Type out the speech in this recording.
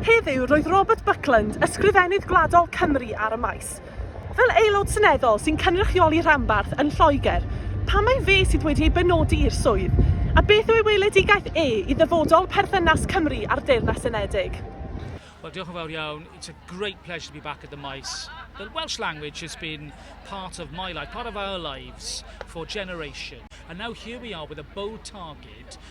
Heddiw roedd Robert Buckland, Ysgrifennydd Gwladol Cymru ar y maes. Fel Aelod Seneddol sy'n cynrychioli rhanbarth yn Lloegr, pam mai fe sydd wedi ei benodi i'r swydd, a beth yw ei weledigaeth e i ddyfodol perthynas Cymru a'r Deyrnas Unedig? Well, diolch yn fawr iawn. It's a great pleasure to be back at the Mice. The Welsh language has been part of my life, part of our lives for generations. And now here we are with a bold target